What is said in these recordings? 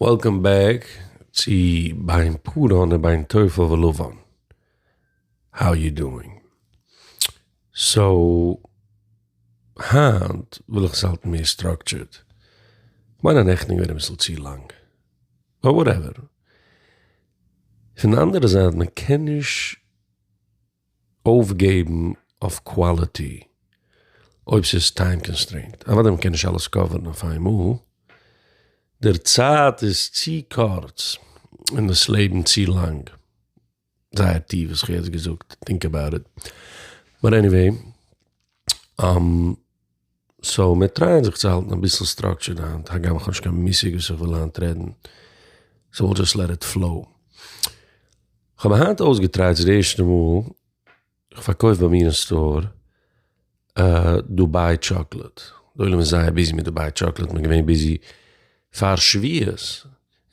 וועלקאם בעק צו בין פרען ובין תופל ולבן, האו יו דואינג? סאו היינט וויל איך עס האלטן מער סטראקטשערד, כ'מיין א נעכטן איז געווען אביסל צו לאנג, באט וואטעווער. פון די אנדערע זייט מען קען נישט אויפגעבן אויף קוואליטי אויב ס'איז טיים קאנסטרעינט, אוודאי מ'קען נישט אלעס קאווערן אויף איינמאל, דער צייט איז צו קורץ און דאס לעבן צו לאנג, זייער טיף וואס איך האב יעצט געזאגט, טינק עבאוט איט, באט עניוועי. סאו מיר טרייען זיך צו האלטן אביסל סטראקטשערד היינט, הגם איך האב נישט קיין מושג וואס איך וויל היינט רעדן, סאו וויל דזשאסט לעט איט פלאו. כ'האב מיר היינט אויסגעטרייט ס'איז די ערשטע מאל איך פארקויף ביי מיר אין סטאר דובאי טשאקלעד, די עולם איז זייער ביזי מיט דובאי טשאקלעד, מ'איז געווען ביזי פאר שבועות,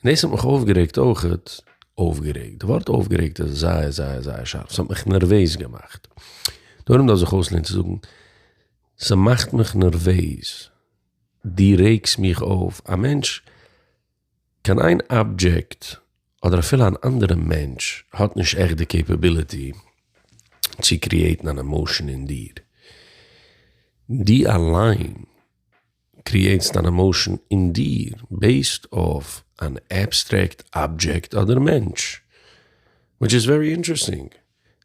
און דאס האט מיך אויפגערעגט אויכעט, אויפגערעגט, די ווארט אויפגערעגט איז זייער זייער זייער שארף, ס'האט מיך נערוועז געמאכט, דארום דארף זיך אויסלערנען צו זאגן ס'מאכט מיך נערוועז, דו רעגסט מיך אויף, א מענטש, קיין איין אבדזשעקט אדער אפילו אן אנדערע מענטש האט נישט עכט די קעפעביליטי צו קריעטן אן עמאשען אין דיר, דו אליין. קריעטסט אן עמאושען אין דיר בעיסד אויף אן עבסטרעקט אבדזשעקט אדער מענטש. וויטש איז ווערי אינטערעסטינג.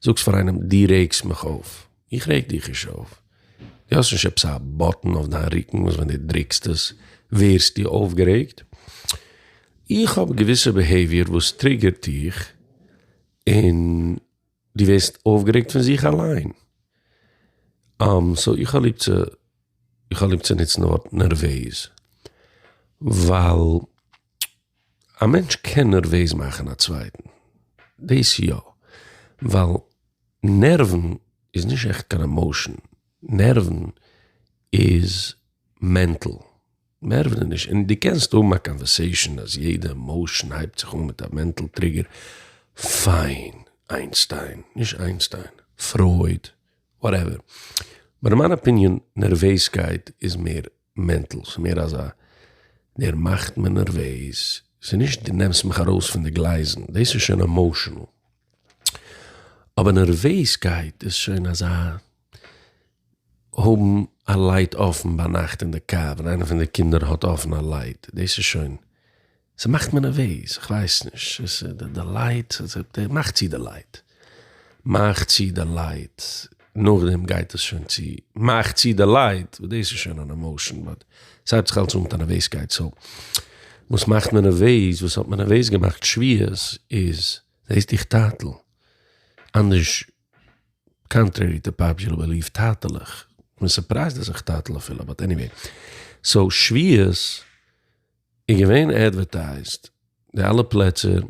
זאגסט פאר איינעם דו רעגסט מיך אויף. איך רעג דיך נישט אויף. דו האסט נישט עפעס א באטן אויף דיין רוקן וואס ווען דו דרוקסט עס ווערסטו אויפגערעגט. איך האב געוויסע ביהעיוויער וואס טריגערט דיך און דו ווערסט אויפגערעגט פון זיך אליין. סאו איך האב ליב צו, איך האב ליב צו נוצן די ווארט נערוועז, ווייל א מענטש קען נערוועז מאכן א צווייטן, דאס יא, ווייל נערוון איז נישט עכט קיין עמאושען, נערוון איז מענטל. מער ווי נישט, און דו קענסט האבן א קאנווערסעישאן אז יעדע עמאושען הייבט זיך אן מיט א מענטל טריגער, פיין, איינשטיין, נישט איינשטיין, פרויד, וואטעווער, באט אין מיין אפיניען נערוועזקייט איז מער מענטל, ס'איז מער אזא דער מאכט מיר נערוועז, ס'איז נישט דו נעמסט מיך ארויס פון די גלייזן, דאס איז שוין עמאושענעל, אבער נערוועזקייט איז שוין אזא האבן א לייט אפן ביינאכט אין די קאר ווען איינער פון די קינדער האט אפן א לייט, דאס איז שוין, ס'מאכט מיר נערוועז, איך ווייס נישט, עס איז די די לייט, מאך צו די לייט, מאך צו די לייט, נאכדעם גייט עס שוין צו, מאך צו די לייט, דאס איז שוין אן עמאושען, באט ס'הייבט זיך אלס אן מיט א נערוועזקייט, סאו וואס מאכט מיר נערוועז, וואס האט מיר נערוועז געמאכט שביעות איז, זעסט דיך טאטל, אנדערש. קאנטרערי טו פאפזשעל בעליוו טאטעלעך, כ'בין סורפרייזד אז איך טאטעל אפילו באט עניוועי, סאו שביעות איז געווען אדווערטייזט די אלע פלעצער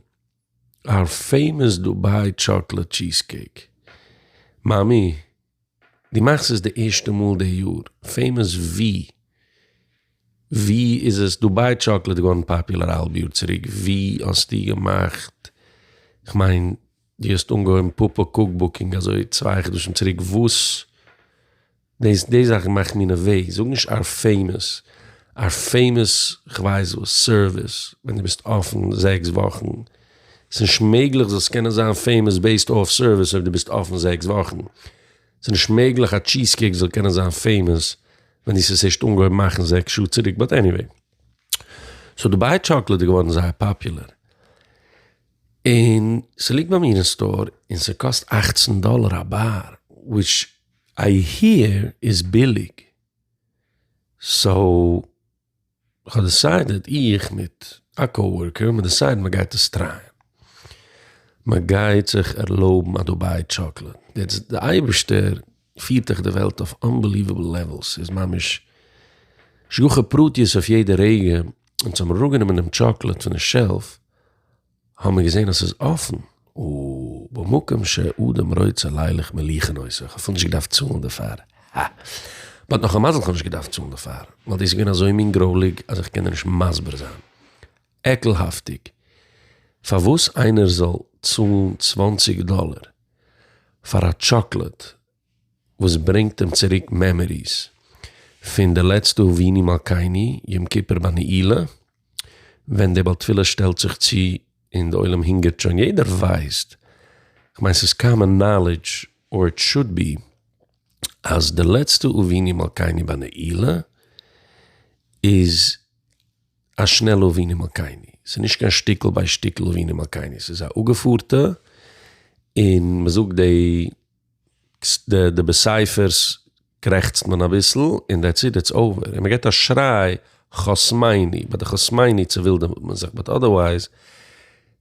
אר פעימאס דובאי טשאקלעט טשיז קעיק מאמי דו מאכסט עס די ערשטע מאל די יאר פעימאס ווי? ווי איז עס דובאי טשאקלעט געווארן פאפולער א האלב יאר צוריק ווי האסטו געמאכט כ'מיין. דו האסט אנגעהויבן פאפא קוקבוקינג אזוי צוויי חדשים צוריק וואס דאס די זאכן מאכן מיר נערוועז זאג נישט אר פעימעס אר פעימעס כווייס וואס סערוויס ווען דו ביסט אפן זעקס וואכן סנישט מעגליך זאלסט קענען זיין פעימעס בעיסד אויף סערוויס אויב דו ביסט אפן זעקס וואכן סנישט מעגליך א טשיז קעיק זאל קענען זיין פעימעס ווען דאס האסט ערשט אנגעהויבן מאכן זעקס שעה צוריק באט עניוועי סאו דובאי טשאקלעד איז געווארן זייער פאפולער. און ס'ליגט ביי מיר אין סטאר און ס'קאסט אַכצן דאלער א באר, וויטש איי היער איז ביליג, סאו כ'האב דיסיידעד איך מיט א קאוארקער האבן מיר דיסיידעד מ'גייט עס טרייען, מ'גייט זיך ערלויבן א דובאי טשאקלעד, יעצט די אייבערשטער פירט דיך די וועלט אויף אנבעליוועבל לעוועלס, ס'איז ממש השגחה פרטיות אויף יעדע רגע, אונז האבן אראפגענומען דעם טשאקלעד פון די שעלף, האמיר געזען אז ס'איז אפן, ובמקום שאדם רוצה לילך מליכין עושה, איך האב אפילו נישט געדארפט צאלן דערפאר, הא! באט נאך א מזל כ'האב נישט געדארפט צאלן דערפאר, ווייל דאס איז געווען אזוי מין גרויליג אז איך קען דיר נישט מסביר זיין, עקלהאפטיג, פארוואס איינער זאל צאלן צוואנציג דאלער? פאר א טשאקלעד וואס ברענגט אים צוריק מעמעריס פון די לעצטע אבינו מלכינו יום כיפור ביי נעילה ווען די בעל תפילה שטעלט זיך צו און די עולם הונגערט שוין יעדער ווייסט כ'מיין ס'איז קאמאן נאלידזש אר איט שאד בי אז די לעצטע אבינו מלכינו ביי נעילה איז א שנעלע אבינו מלכינו, ס'איז נישט קיין שטיקל ביי שטיקל אבינו מלכינו, ס'איז א אפגעפארטע, און מ'זאגט די די בסייפערס קרעכצט מען אביסל און דעטס איט איטס אווער, און מ'געט א שריי חוסמני, ביי די חוסמני צעווילדעוועט מען זיך, באט אדערווייז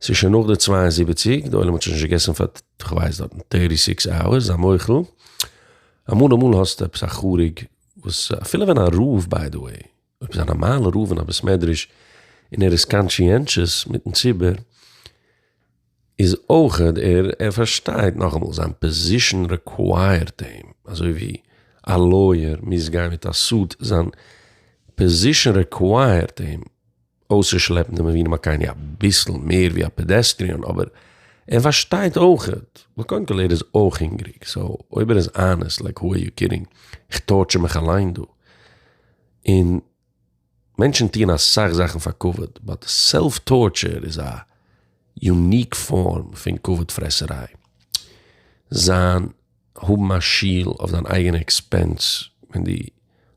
ס'איז שוין נאך די צוויי און זיבעציק, די עולם האט שוין נישט געגעסן פאר כ'ווייס דארטן טערטי סיקס אווערס, זיי מוחל, אמאל אמאל האסטו עפעס א חריג וואס אפילו ווען א רוב ביי די וועי. אויב איז א נארמאלע רב אין א בית מדרש און ער איז קאנטשיענטשעס מיטן ציבור איז אויך ער ער פארשטייט נאכאמאל זיין פאזישן רעקווייערט אים אזוי ווי א לויער מוז גיין מיט א סוט זיין פאזישן רעקווייערט אים אויסצושלעפן די מבינים הקייני אביסל מער ווי א פעדעסטריען אבער ער פארשטייט אויך ווייל קודם כל ער איז אויך הונגעריג סאו אויב ער איז אנעסט לייק האו אר יו קידינג איך טארטשער מיך אליין דא. און מענטשן טוען אסאך זאכן פאר כבוד, באט סעלף טארטשער איז א יוניק פארם פון כבוד פרעסעריי. זיין האבן א שול אויף דיין אייגענע עקספענס ווען דו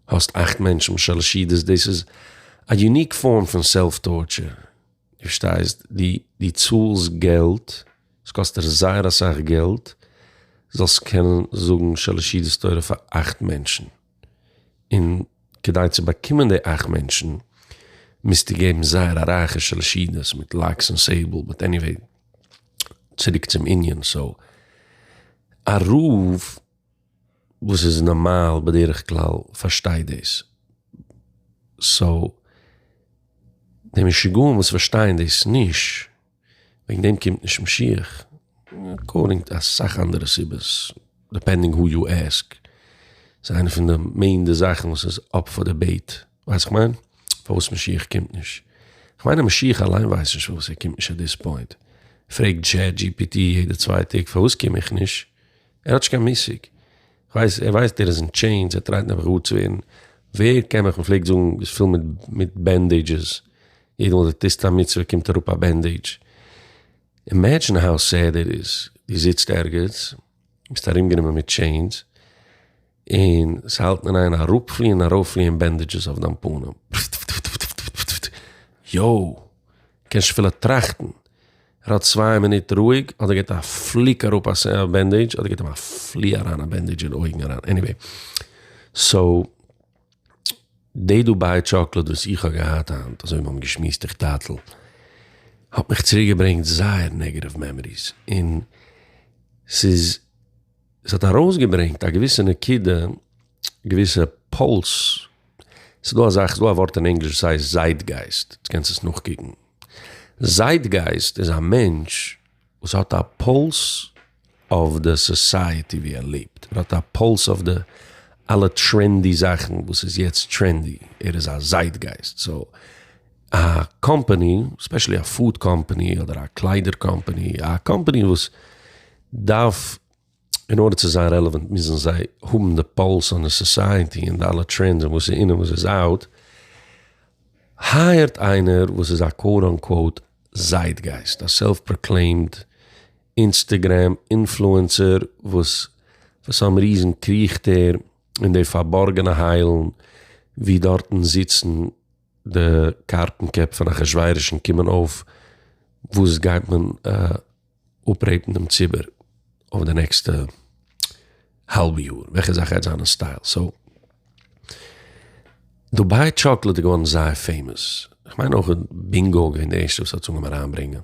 האסט אכט מענטשן בשלש ידות דאס איז א יוניק פארם פון סעלף טארטשער. דו פארשטייסט? דו צאלסט געלט, עס קאסט דיר זייער אסאך געלט, זאלסט קענען זאגן שלש ידות תורה פאר אכט מענטשן. און כדי צו באקומען די אכט מענטשן מוזטו געבן זייער א רייכע שאלשידעס מיט לייקס און סעיבל, באט עניוועי צוריק צום ענין, סאו א רב וואס איז נארמאל בדרך כלל פארשטייט דאס, סאו די משוגעים וואס פארשטייען דאס נישט. וועגן דעם קומט נישט משיח, אקארדינג טו אסאך אנדערע סיבות, דיפענדינג הו יו עסק, ס'איז איינע פון די מעין די זאכן וואס איז אפ פאר דיבעיט, ווייסט כ'מיין? פארוואס משיח קומט נישט, כ'מיין אז משיח אליין ווייסט נישט פארוואס ער קומט נישט עט דיס פוינט, פרעגט טשעט דזשי פי טי יעדע צוויי טעג פארוואס קום איך נישט? ער האט נישט קיין מושג, כ'ווייס ער ווייסט ער איז אין טשעינס ער טרייט נעבעך גאר צו ווערן, ווער קען מיך מ'פלעגט זאגן איז פול מיט מיט בענדעידזשעס, יעדע מאל די טוסט א מצוה קומט אראפ א בענדעידזש, אימעדזשין האו סעד איט איז, די זיצט ערגעץ, ביסט ארומגענומען מיט טשעינס, און זיי האלטן אין איין אראפפליען ארויפליען בענדעדזשעס אויף דיין פנים. יואו! קענסט אפילו טראכטן. ער האלט צוויי מינוט רואיג, אדער געט א פליק אראפ א בענדעדזש, אדער געט אים א פלי אריין א בענדעדזש אין אויגן אריין. עניוועי. סאו, די דובאי טשאקלאד וואס איך האב געהאט היינט, אזוי ווי מיר האבן געשמועסט איך טאטעל, האט מיך צוריק געברענגט זייער נעגעטיוו מעמאריס. און ס'איז. עס האט ארויסגעברענגט א געוויסע נקודה, געוויסע פולס, ס'איז דא א זאך, ס'איז דא א ווארט אין ענגליש וואס הייסט זייטגייסט, דו קענסט עס נאכקוקן, זייטגייסט איז א מענטש וואס האט א פולס אויף די סאסייעטי ווי ער לעבט, ער האט א פולס אויף די אלע טרענדי זאכן וואס איז יעצט טרענדי, ער איז א זייטגייסט, סאו א קאמפאני, ספעשעלי א פוד קאמפאני אדער א קליידער קאמפאני, א קאמפאני וואס דארף, אין ארדער צו זיין רעלעווענט מוזן זיי האבן די פאלס אן די סאסייעטי און די אלע טרענדס און וואס איז אין און וואס איז אאוט. הייערט איינער וואס איז א קאוט אן קאוט זייטגייסט, א סעלף פראקלעימד אינסטעגרעם אינפלוענסער וואס פאר סאם ריזען קריכט ער אין די פארבארגענע היילן ווי דארטן זיצן די קארטן קעפ פון אחשורוש און קומען אויף וואס גייט מען אפרעיטן דעם ציבור אויף די נעקסטע האלב יאר וועלכע זאך גייט זיין אין סטייל סאו דובאי טשאקלעט איז געווארן זייער פעימאס כ'מיין אויך בינגא איז געווען די ערשטע וואס האט עס אנגעהויבן אריינברענגען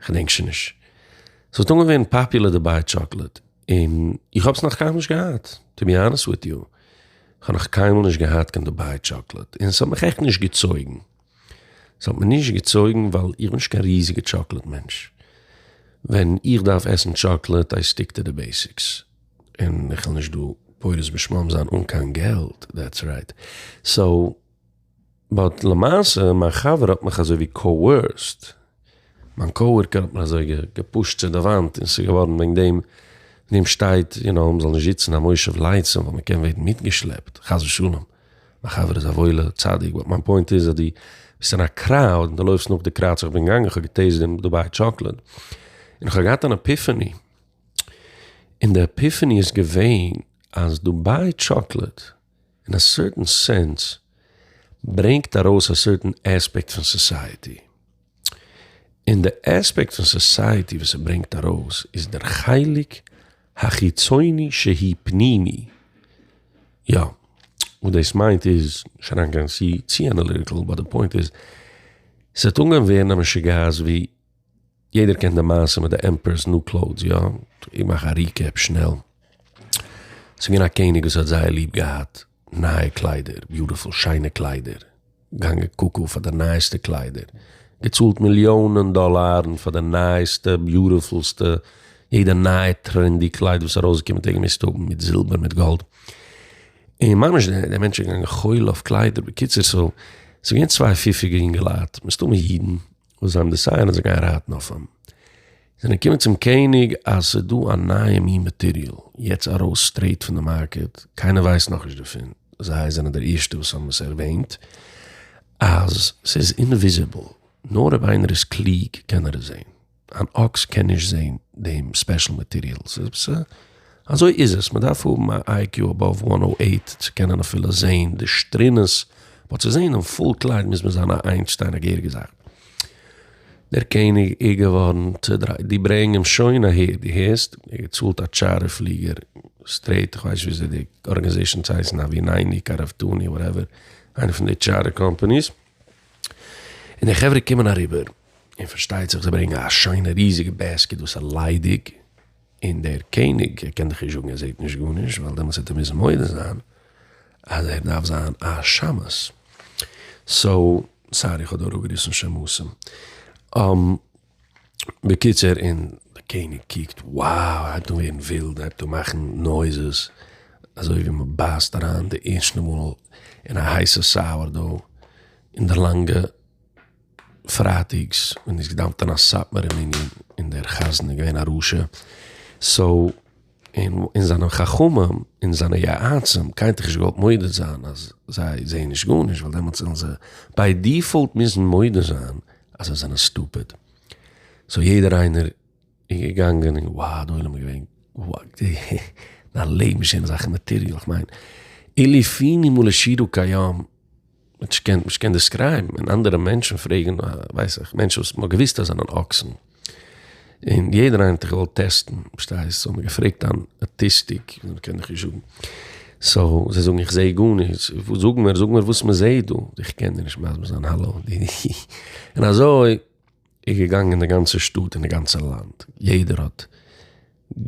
כ'דענק שוין נישט ס'האט אנגעהויבן ווערן פאפולער דובאי טשאקלעט און איך האב עס נאך קיינמאל נישט געהאט טו בי האנעסט וויט יו כ'האב נאך קיינמאל נישט געהאט קיין דובאי טשאקלעט און ס'האט מיך עכט נישט געצויגן. ס'האט מיר נישט געצויגן ווייל איך בין נישט קיין ריזיגע טשאקלעט מענטש. ווען איך דארף עסן טשאקלעט איי סטיק טו די בעסיקס. און איך וויל נישט דא פורס בשמם זיין אן קיין געלט דעטס רייט. סאו באט למעשה מיין חבר האט מיך אזויווי קאוערסד. מיין קאווארקער האט מיך אזוי געפושט צו די וואנט און ס'איז געווארן וועגן דעם ווען אים שטייט יו נאו מ'זאל נישט זיצן א מושב לייצים ווייל מ'קען ווערן מיטגעשלעפט חס ושלום. מיין חבר איז א וואוילע צדיק, באט מיין פוינט איז אז דו ביסט אין א קראוד און דו לויפסט נאך די קראוד, איך בין געגאנגען איך האב געטעיסט דעם דובאי טשאקלעד, און איך האב געהאט אן עפיפעני, און די עפיפעני איז געווען אז דובאי טשאקלעד אין א סערטען סענס ברענגט ארויס א סערטען עספעקט פון סאסייעטי. און די עספעקט פון סאסייעטי וואס ער ברענגט ארויס איז דער חלק החיצוני שהי' פנימי, יא, וואס דאס מיינט איז, נישט אריינגיין צו אנאליטיקל, באט די פוינט איז, ס'וועט אנגיין ווערן א משוגעת ווי, יעדער קען די מעשה מיט די עמפערער'ס ניו קלאוטס יא? איך מאך א ריקעפ שנעל, ס'איז געווען א קעניג וואס האט זייער ליב געהאט נייע קליידער, ביוטיפול שיינע קליידער, געגאנגען קוקו פאר די נייעסטע קליידער, געצאלט מיליאנען דאלארן פאר די נייעסטע ביוטיפולסטע, יעדע נייע טרענדי קלייד וואס איז ארויסגעקומען האט ער געמוזט האבן, מיט זילבער מיט גאלד, און ממש די מענטשן געגאנגען חול אויף קליידער, בקיצור סאו ס'איז געווען צוויי פיפיגע יונגעלייט, מסתמא אידן. וואס זיי האבן דעסייען אז זיי גייען רייטן אויף אים, זענען געקומען צום קעניג אז ס'איז דא א נייע מין מאטעריאל יעצט ארויס סטרעיט פון די מארקעט, קיינער ווייסט נאכנישט דערפון, זיי זענען די ערשטע וואס האבן עס ערוועינט, אז ס'איז אינוויזיבל, נאר אויב איינער איז קלוג קען ער עס זען, אן אקס קען נישט זען דעם ספעשל מאטעריאל. אזוי איז עס, מען דארף האבן א איי קיו אבאוו וואן הונדערט אַכט צו קענען אפילו זעהן די שטרינעס, באט צו זעהן דעם פול קלייד מוז מען זיין א איינשטיין א געהעריגע זאך. דער קעניג איז געווארן צודרייט, דו ברענג אים שוין אהער, דו הערסט? ער האט געצאלט א טשארטער פליגער, סטרעיט, איך ווייס נישט וויאזוי די ארגענעזעישאן צו הייסן, אווינייני, קארעפטאני, וואטעווער, איינע פון די טשארטער קאמפאניס, און די חברה קומען אריבער, און פארשטייט זיך זיי ברענגען א שיינע ריזיגע בעסקיט וואס איז ליידיג, און דער קעניג ער קען דאך נישט זאגן ער זעהט נישט גארנישט ווייל דעמאלטס וועט ער מוזן מודה זיין אז ער דארף זיין א שמש, סאו סארי איך האב דא אראפגעריסן שמשים. בקיצור און דער קעניג קוקט wow ער הייבט אן ווערן ווילד ער הייבט אן מאכן נויזעס אזוי ווי מען בייסט אריין די ערשטע מאל אין א הייסע סאוער דאו אין די לאנגע פרייטיגס און איז געדאמפט אין א סאטמארע מנין און דער חזן איז געווען א רשע סאו און זיינע חכמים און זיינע יועצים קיינער האט דאך נישט געוואלט מודה זיין אז זיי זעען נישט גארנישט ווייל דעמאלטס וועלן זיי ביי דיפאלט מוזן מודה זיין אז זיי זענען סטופיד סאו יעדער איינער איז געגאנגען און וואו די עולם איז געווען דיין לעבן איז שוין אזאלכע מאטעריאל איך מיין אילו פינים ולשירו כהיום מען קען נישט קען דעסקרייבן ווען אנדערע מענטשן פרעגן ווייס איך מענטשן וואס מ'האט געוויסט אז זענען אקסן און יעדער איינער האט זיך געוואלט טעסטן פארשטייסט סאו האט מען געפרעגט אן אטיסטיק און קען איך נישט זאגן סאו זיי זאגן איך זעה גארנישט וואס זאג מיר זאג מיר וואס מ'זעהט דא איך קען דיר נישט מסביר זיין האלא און אזוי איז געגאנגען אין די גאנצע שטאט אין די גאנצע לאנד יעדער האט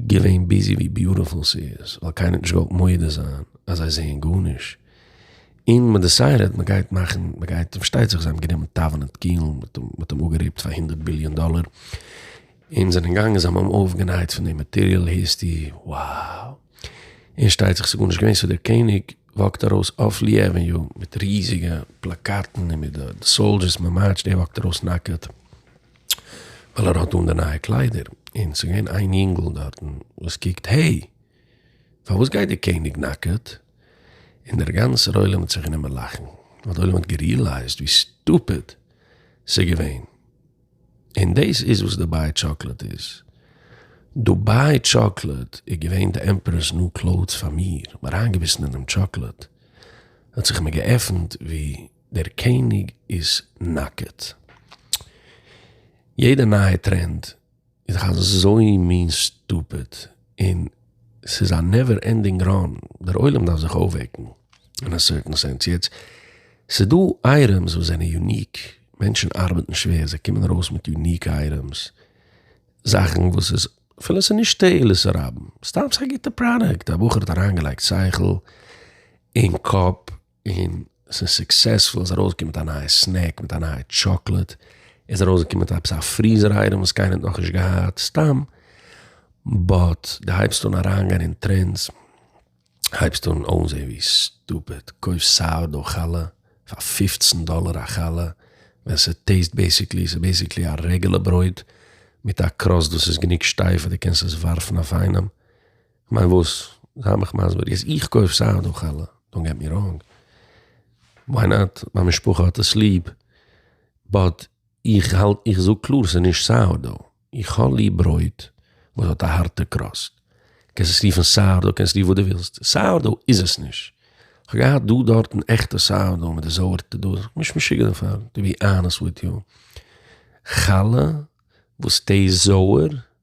געווען ביזי ווי ביוטעפול ס'איז ווייל קיינער האט נישט געוואלט מודה זיין אז זיי זעען גארנישט און מען דעסיידעט מען גייט מאכן מען גייט פארשטייט זיך זיי האבן גענומען טאווען און קיעלן מ'האט אים אפגערעיפט פאר הונדערט ביליאן דאלער און זענען געגאנגען זיי האבן אים אויפגענייט פון די מאטעריאל היסטי wow און שטייט זיך ס'איז גארנישט געווען סאו דער קעניג וואקט ארויס אויף לי עוועניו מיט ריזיגע פלאקאטן און מיט די סאלדשערס מען מארטשט ער וואקט ארויס נאקעט ווייל ער האט אן די נייע קליידער און ס'איז געווען איין יונגל דארטן וואס קוקט העי פארוואס גייט די קעניג נאקעט און דער גאנצער עולם האט זיך גענומען לאכן ווייל די עולם האט גערילייזט ווי סטופיד ס'איז געווען. און דאס איז וואס דובאי טשאקלעט איז. דובאי טשאקלעט איז געווען די עמפערערס ניו קלאוטס פאר מיר, האב אריינגעביסן אינעם טשאקלעט, האט זיך מיר געעפנט ווי דער קעניג איז נאקעט. יעדע נייע טרענד איז דאך אזוי מין סטופיד. און ס'איז א נעווער ענדינג ראן, דער עולם דארף זיך אויפוועקן אין א סערטען סענס, יעצט ס'איז דא אייטעמס וואס זענען יוניק, מענטשן ארבעטן שווער, זיי קומען ארויס מיט יוניק אייטעמס, זאכן וואס איז אפילו ס'איז נישט תועלת הרבים, סתם ס'איז א גוטע פראדוקט, א בחור האט אריינגעלייגט שכל און קאפ. און ס'איז סוקסעספול, עס איז ארויסגעקומען מיט א נייע סנעק, מיט א נייע טשאקלעד, עס איז ארויסגעקומען מיט עפעס א פריזער אייטעם וואס קיינער האט נאכנישט געהאט, סתם, באט די הייבסט אן אריינגיין אין טרענדס, הייבסט אן אויסזען ווי סטופיד, קויפסט סאויר דאו חלה פאר פופצן דאלער א חלה, ווען ס'טעיסט בעיסיקלי, ס'איז בעיסיקלי א רעגולער ברויט מיט א קראסט וואס איז גענוג שטייף אז די קענסט עס ווארפן אויף איינעם. כ'מיין וואס? זיי מיך מסביר, יעצט איך קויף סאך דא חלה, דאנט געט מי ראנג, וויי נאט, מיין משפחה האט עס ליב, באט איך האלט, איך זאג קלאר ס'איז נישט סאוער דאו, איך האב ליב ברויט וואס האט א הארטע קראסט, קענסט עס רופן סאוער דאו, קענסט רופן וואס דו ווילסט, סאוער דאו איז עס נישט, כ'האב געהאט דא דארטן עכטע סאוער דאו מיט די זויערטע דא, נישט משוגע דערפאר, טו בי אנעסט וויט יו, חלה וואס טעיסט זויער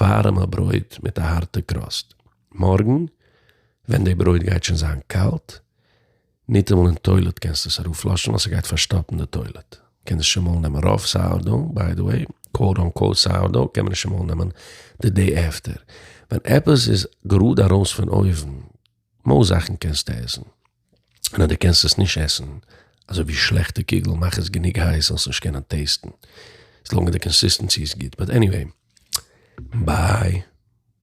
ווארעמע ברויט מיט א הארטע קראסט, מארגן ווען די ברויט גייט שוין זיין קאלט, ניטאמאל אין טוילעט קענסטו עס אראפלאשן ווייל ס'גייט פארשטאפן די טוילעט, קען נישט אמאל נעמען רוב סאורדאו, ביי די וועי, קוואוט אנקוואוט סאורדאו קען מען נישט אמאל נעמען די דעי עפטער, ווען עפעס איז גראד ארויס פון אויוון, מאל זאכן קענסטו עסן. און אז דו קענסט עס נישט עסן, אזוי ווי שלעכטע קוגל, מאך עס גענוג הייס זאלסט נישט קענען טעיסטן, עס לאנג אז די קאנסיסטענסי איז גוט, באט עניוועי, ביי.